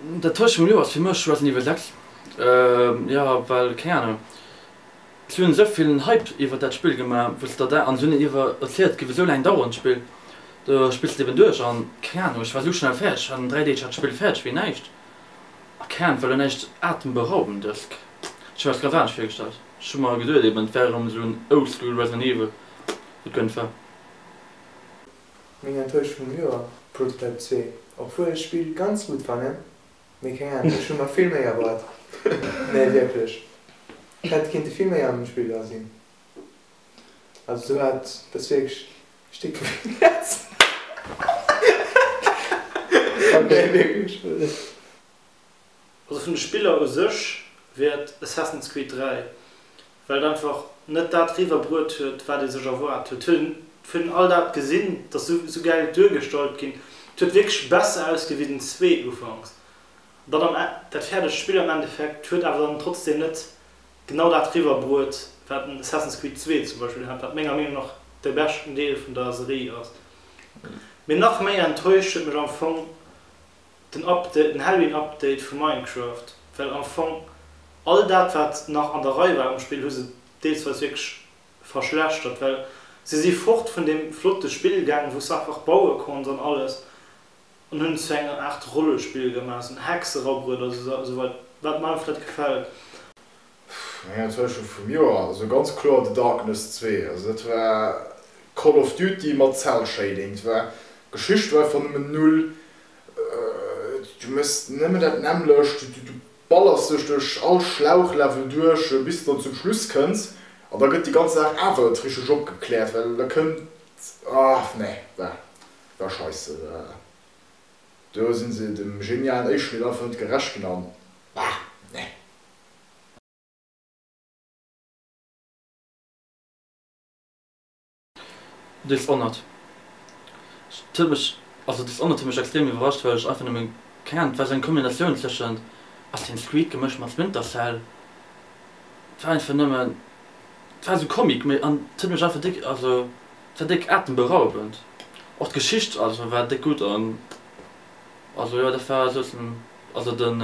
Dat Tëscht vum Lou ass fir mech Resident Evil 6. Jo, well, keng Anung, si hunn esou vill en Hype iwwert dat Spill gemaach, wësst Der dat? An si hunn iwwer erzielt, et géif esou laang daueren, d'Spill. Du spills et eben duerch an, keng Anung, ech war esou schnell fäerdeg, an dräi Deeg hat d'Spill fäerdeg wéi näischt. A keng Anung, et war elo näischt Atemberaubendes. Ech hu mer dat ganz anescht virgestallt. Ech hu mer geduet eben, et wär erëm esou en Oldschool Resident Evil. Et gënnt war. Meng Enttäuschung vum Joer, Prototype 2. Obwuel ech d'Spill ganz gutt fannen, mee keng Ahnung, ech hu mer vill méi erwaart. Nee wierklech, hätt kinnte vill méi an dem Spill dra sinn. Also sou hat dës wierklech e Stéck vu mir gefressen. Nee wierklech. Also vun de Spiller u sech wier et Assassin's Creed 3, well et einfach net dat eriwwer bruet huet, wat ee sech erwaart huet. Hunn vun all dat gesinn, et ass sou gäil duergestallt ginn, et huet wierklech besser ausgesi wéi den zwee ufanks. An dann am Enn, dat fäerdegt Spill am Endeffekt huet awer dann trotzdeem net genau dat eriwwer bruet, wat en Assassin's Creed 2 zum Beispill hat, wat menger Meenung nach de beschten Deel vun der Serie ass. Mee nach méi enttäuscht huet mech am Fong Den Update, den Halloween Update vu Minecraft, well am Fong all dat wat nach an der Rei war um Spill hu se deelsweis wierklech verschlechtert, well se si fort vun deem flotte Spill gaangen wou s einfach baue konns an alles an hunn et zu enger Aart Rollespill gemaach, esou en Hexerabrueder esou wat mer einfach net gefält. Pff, eng Enttäuschung vum Joer? Also ganz kloer The Darkness zwee. Also dat war Call of Duty mat Cell Shading. Dat war, d'Geschicht war einfach nëmmen null. Du méchs nëmmen dat nämmlecht, du ballerst dech duerch all Schlauchlevel duerch bis de dann zum Schluss kënns an da gëtt déi ganz Saach awer net richteg opgekläert, well da kënnt, ah nee, war war scheisse. Do si se dem genialen Éischmidd einfach net gerecht ginn an, bah, nee. Dishonored huet mech, also Dishonored huet mech extrem iwwerrascht, well ech einfach nëmme keng Ahnung, et war sou eng Kombinatioun tëschent Assassin's Creed gemëscht mat Splinter Cell. Et war einfach nëmmen, et war sou Comic méi an et huet mech einfach déck, also et war déck atemberaubend. Och d'Geschicht also war déck gutt an also jo dat war souzen also den.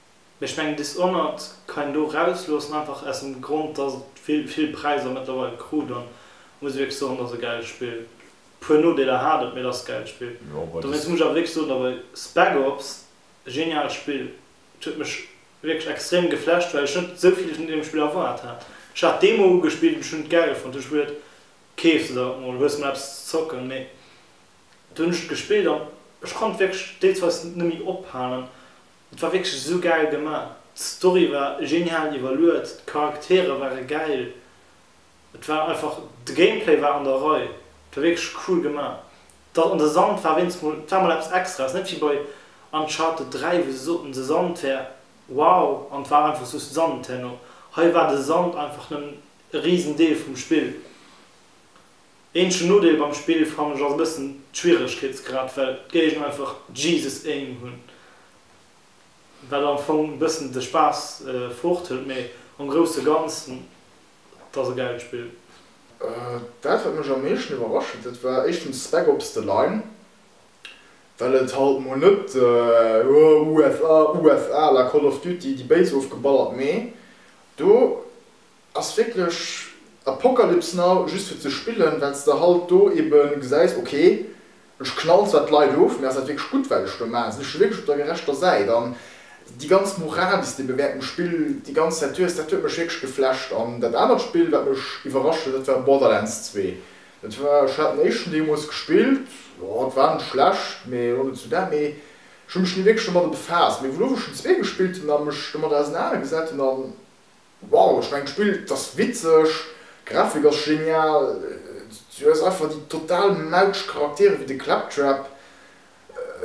Mee ech mengen Dishonored kann een do rausloossen, einfach aus dem Grond, dass et vill, vill Präiser mëttlerweil krut. An muss wierklech soen, et ass e gäilt Spill. E puer Nodeeler hat et, mee et ass e gäilt Spill. Dowéinst muss ech awer wierklech soen, awer Spec Ops, e geniaalt Spill. Et huet mech wierklech extrem geflasht, well ech net esou vill vun deem Spill erwaart hat. Ech hat d'Demo ugespillt an ech hunn et gäil fonnt. Ech hu geduet, keef se der et mol, hues mol eppes ze zocken. Mee dunn hunn ech et gespillt an ech konnt wierklech deels weis net méi ophalen. Et war wierklech esou gäil gemaach. D'Story war genial iwwerluet, d'Charaktere ware gäil, et war einfach, de Gameplay war an der Rei, et war wierklech cool gemaach. Dat an de Sand war wéinst mol, et war mol eppes Extraes, net wéi bei Uncharted 3, wou se soten, de Sand wär wow an et war einfach just Sand herno. Hei war de Sand einfach nëmmen e Risendeel vum Spill. Eenzegen Nodeel beim Spill fannen ech ass e bëssen d'Schwieregkeetsgrad, well d'Géigner einfach Jesus Aim hunn, wat am Fong e bëssen de Spaass fort hëlt, mee am grousse Ganzen, et ass e gäilt Spill. Dat wat mech am meeschten iwwerrascht huet, dat war éischtens Spec Ops The Line, well et halt mol net USA, USA à la Call of Duty, déi Béis ofgeballert, mee do Ass wierklech Apocalypse Now just fir ze spillen, well s de halt do ebe gesäis, ok, ech knallen zwar d'Leit of, mee ass dat wierklech gutt wat ech do maachen? Sinn ech do wierklech op der gerechter Säit? An déi ganz Moral, déi s de ebe während dem Spill déi ganz Zäit hues, dat huet mech wierklech geflasht. An dat anert Spill, wat mech iwwerrascht huet, dat war Borderlands 2. Dat war, ech hat den éischten deemools gespillt, jo, et war net schlecht, mee elo net esou dat. Mee ech hu mech ni wierklech domadder befaasst. Mee wou ech den zwee gespillt hunn a mech domadder ausenanergesat hunn, an. Wow, ech mengen d'Spill ass witzeg, d'Grafik ass genial, du hues einfach déi total mautsch Charaktere wéi de Claptrap,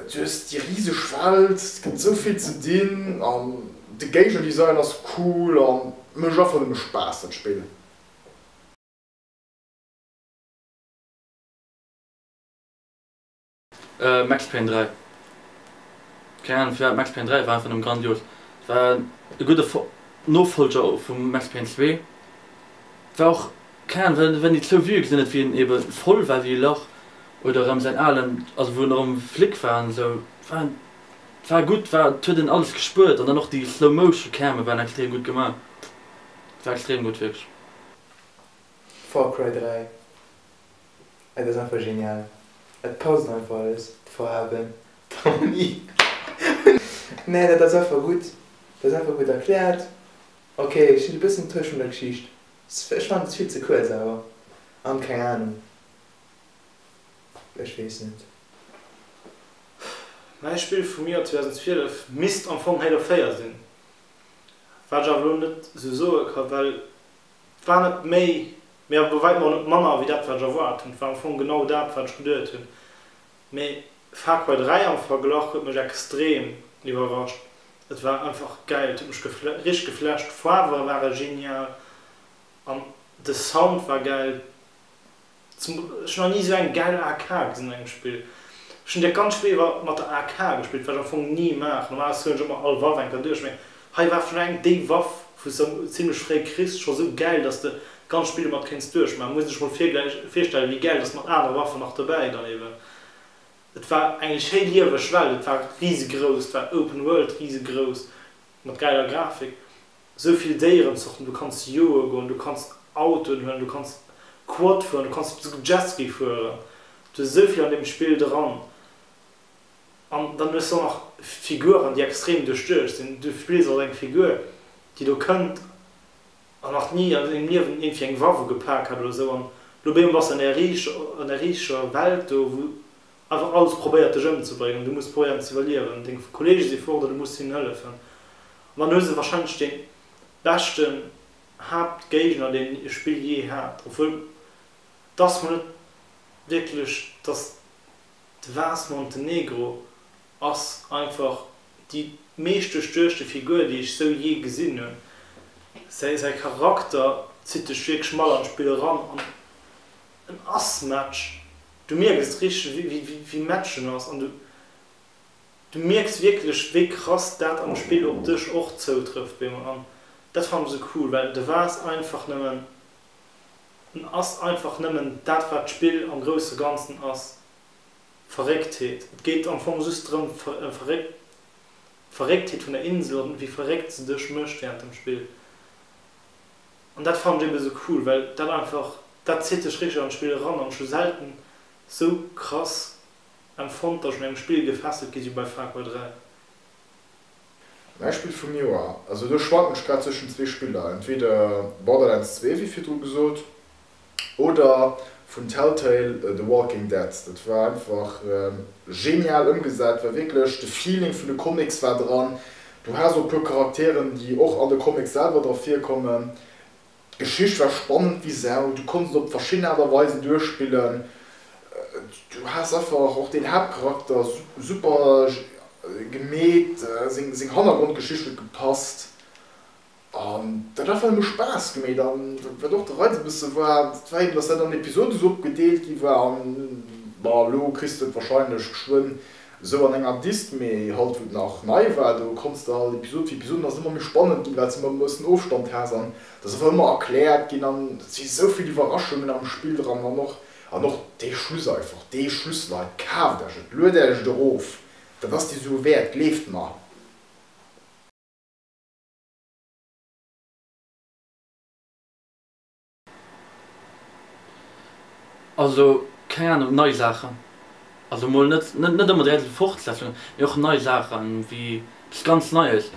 du hues déi riseg Welt, et gëtt esou vill ze dinn an de Game Design ass cool a mécht einfach nëmme Spaass dat Spill. Max Payne 3, keng Ahnung firwat, Max Payne 3 war einfach nëmme grandios. Et war e gudde Nofollger vu Max Payne 2. Et war och, keng Ahnung, well well déi zwou Vuë gesinn huet, wéi en ebe voll war wéi e Lach oder erëm säin alen, also wou en erëm Flic war an esou. Et war en, et war gutt, et war, et huet een alles gespuert an dann och déi Slow Motion Came waren extrem gutt gemaach. Et war extrem gutt wierklech. Far Cry 3, Et ass einfach genial, et passt einfach alles, d'Faarwen, d'Harmonie, nee dat ass einfach gutt, dat ass einfach gutt erkläert, ok ech sinn e bëssen enttäuscht vun der Geschicht, ech fannen et ass vill ze kuerz awer, an keng Ahnung, ech weess net. Mäi Spill vum Joer 2012 misst am Fong Halo 4 sinn, wat ech awer elo net esou soe ka well. Et war net méi, mee awer bei wäitem och net manner wéi dat, wat ech erwaart hunn. Et war am Fong genau dat, wat ech geduet hunn. Mee Far Cry 3 am Verglach huet mech extrem iwwerrascht. Et war einfach gäil. Et huet mech richteg geflasht. D'Faarwe ware genial an de Sound war gäil. Zum ech hun nach ni esou eng gäil AK gesinn an engem Spill. Ech hun dat ganz Spill iwwer mat der AK gespillt, wat ech am Fong ni maachen. Normalerweis zouhen ech ëmmer all Waff eng Kéier duerch, mee hei war vun eng déi Waff wou s de zimlech fréi kriss scho sou gäil, dass de d'ganz Spill domat kéints duerchmaachen. Muss een sech mol virgläich virstellen, wéi gäil dass mat anere Waffen nach dobäi dann eben. Et war eng schéi lieweg Welt, et war risegrouss, et war Open World, risegrouss, mat gäiler Grafik. sou vill Déierenzorten, du kanns joe goen, du kanns Autoen huelen, du kanns Quad fueren, du kanns souguer Jetski fueren, du hues esou vill an deem Spill dran. An dann hues de och nach Figuren, déi extrem duerchduecht sinn. Du spills also eng Figur, déi do kënnt an nach ni an sengem Liewen iergendwéi eng Waffe gepak hat oder sou an elo bémol bass de an där riicher Welt do, wou awer alles probéiert dech ëmzebréngen, du muss probéieren ze iwwerliewen, deng Kollege si fort an du muss hinnen hëllefen an dann hu se wahrscheinlech de beschte Haaptgéigner deen e Spill jee hat, obwuel dass mer net wierklech, dass de Vase Montenegro ass einfach déi meescht duerchduechte Figur déi ech sou jee gesinn hunn, säi Charakter zitt dech wierklech mat an d'Spill eran an. En ass matsch. Du mierkes richteg wéi matsch en ass an du mierks wierklech wéi krass dat am Spill op dech och zoutrëfft wéi mer. An dat fannen ech sou cool, well de wars einfach nëmmen, en ass einfach nëmmen dat wat d'Spill am grousse Ganzen ass, Verrécktheet. Et geet am Fong just drëm Verrécktheet vun der Insel an wéi verréckt se dech mécht während dem Spill. An dat fannen ech eben esou cool, well dat einfach, dat zitt dech richteg an d'Spill eran. An ech hu selten esou krass empfonnt, dass ech un engem Spill gefesselt gi si wéi bei Far Cry 3. Mäi Spill vum Joer, also do schwanken ech grad zwëschen zwee Spiller, entweder Borderlands 2, wéi virdru gesot, oder vun Telltale The Walking Dead, dat war einfach genial ëmgesat, war wierklech de Feeling vun de Comics war dran, du has och e puer Charakteren déi och an de Comics selwer dra virkommen, d'Geschicht war spannend wéi Sau, du konnts et op verschidden Aart a Weisen duerchspillen, du has einfach och den Haaptcharakter super gemeet, seng Hannergrondgeschicht huet gepasst. An dat hat ëmmer Spaass gemeet. An wat och de Reiz e bësse war, dat war eben, datt dat an Episoden sou opgedeelt gi war. An bon, elo kriss de et warscheinlech geschwënn esou an enger Dist. Mee haut, wou et nach nei war, do konns de all Episod fir Episod, an ass et ëmmer méi spannend ginn, well s de ëmmer e bëssen Ofstand has. An et ass awer ëmmer erkläert ginn. An et si sou vill Iwwerraschungen am Spill dran. An och, an och dee Schluss einfach, dee Schluss, Leit, kaaft Iech et, luet Iech et erof, dat ass déi Sue wäert, gleeft mer! Also, keng Ahnung, nei Saachen. Also mol net, net ëmmer direkt eng Fortsetzung, mee och nei Saachen, wéi eppes ganz Neies,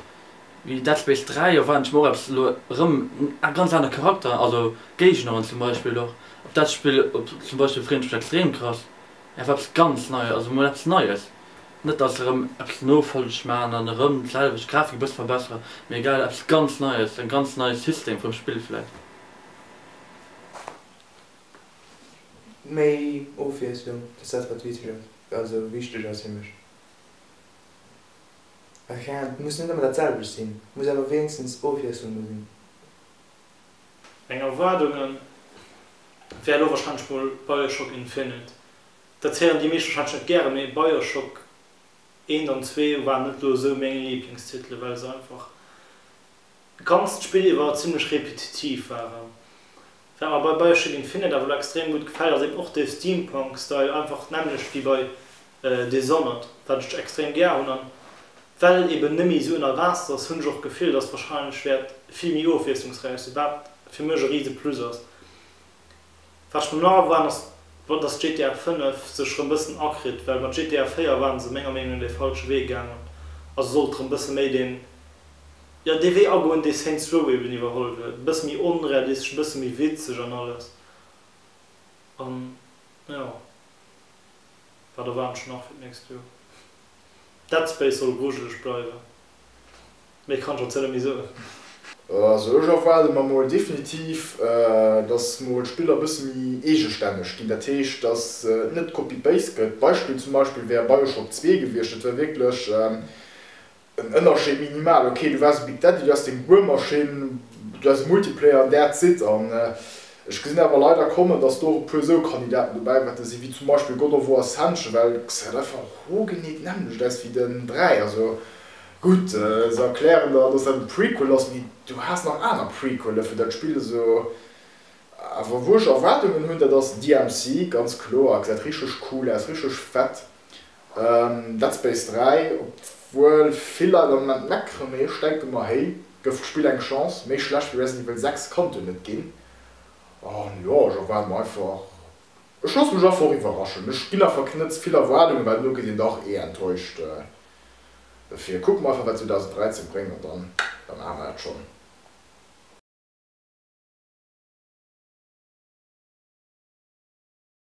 wéi Dead Space 3, och wann ech mer och eppes elo erëm, a ganz aner Charakter, also Géigneren zum Beispill och. Op dat Spill zum Beispill freeën ech mech extrem krass. Einfach eppes ganz Neies, also mol eppes Neies. Net dass erëm eppes nofolleg maachen an erëm d'selwecht Grafik e bësse verbesseren, mee egal, eppes ganz Neies, en ganz neie System vum Spill vläicht. Méi Ofwiesslung, dass dat wat wichteg ass, also wichteg ass fir mech. Rent muss net ëmmer dat selwecht sinn, muss awer wéinstens Ofwiesslung do sinn. Meng Erwaardunge wär elo warscheinlech mol Bioshock Infinite, Dat héieren déi meescht wahrscheinlech net gären, mee Bioshock 1 an 2 waren net lo esou meng Lieblingstitele well se einfach d'ganzt d'Spill iwwer zimmlech repetitiv waren. Wat mer bei Bioshock Infinite awer lo extrem gutt gefält ass eben och de Steampunk Style, einfach d'nämmlecht wéi bei Dishonored, wat ech extrem gär hunn. An well eben net méi esou ënner Waasser ass, hunn ech och d'Gefill dass wahrscheinlech wäert vill méi ofwiesslungsräich sinn, wat fir mech e rise Plus ass. Wat ech mer nach erwaarden ass, wa datt GTA 5 sech erëm bëssen akritt, well mat GTA 4 ware se menger Meenung no dee falsche Wee gaangen a se sollt erëm bësse méi deen, jo, dee Wee agoen, dee Saints Row eben iwwerholl huet, e bësse méi onrealistesch, e bësse méi witzeg an alles. An jo, wat erwaarden ech nach fir d'nächst Joer? Dead Space soll grujeleg bleiwen. Méi kann ech dozou net méi soen. Also ech erwaarde mer mol definitiv, datt mol d'Spill e bësse méi eegestänneg ginn. Dat heescht, datt et net copy-paste gëtt. Beispill zum Beispill wär Bioshock zwee gewiescht. Dat wär wierklech en Ënnerscheed minimal. Ok, du waars e Big Daddy, du has deng Buermaschinn, du has e Multiplayer an that's it. An ech gesinn awer leider kommen, datt do och e puer esou Kandidaten dobäi wäerte sinn, wéi zum Beispill God of War Ascension, well et gesäit einfach origineel d'nämmlecht aus wéi den dräi. Also Gutt, se erklären der, dass dat e Prequel ass, mee du has nach aner Prequele fir dat Spill esou awer wuerg Erwaardungen hunn. Dat ass DMC, ganz kloer, gesäit richteg cool aus, richteg fett. Dead Space 3, obwuel vill Leit am Moment meckeren, mee ech denke mer, héi, gëff d'Spill eng Chance, méi schlecht wéi Resident Evil 6 kannt en net ginn. An jo, ech erwaarde mer einfach, ech loosse mech einfach och iwwerraschen, ech ginn awer keen net ze vill Erwaardungen, well elo kritt een dach ee enttäuscht. Dofir kucke mer einfach, wat 2013 bréngt, an dann, da maache mer dat schonn.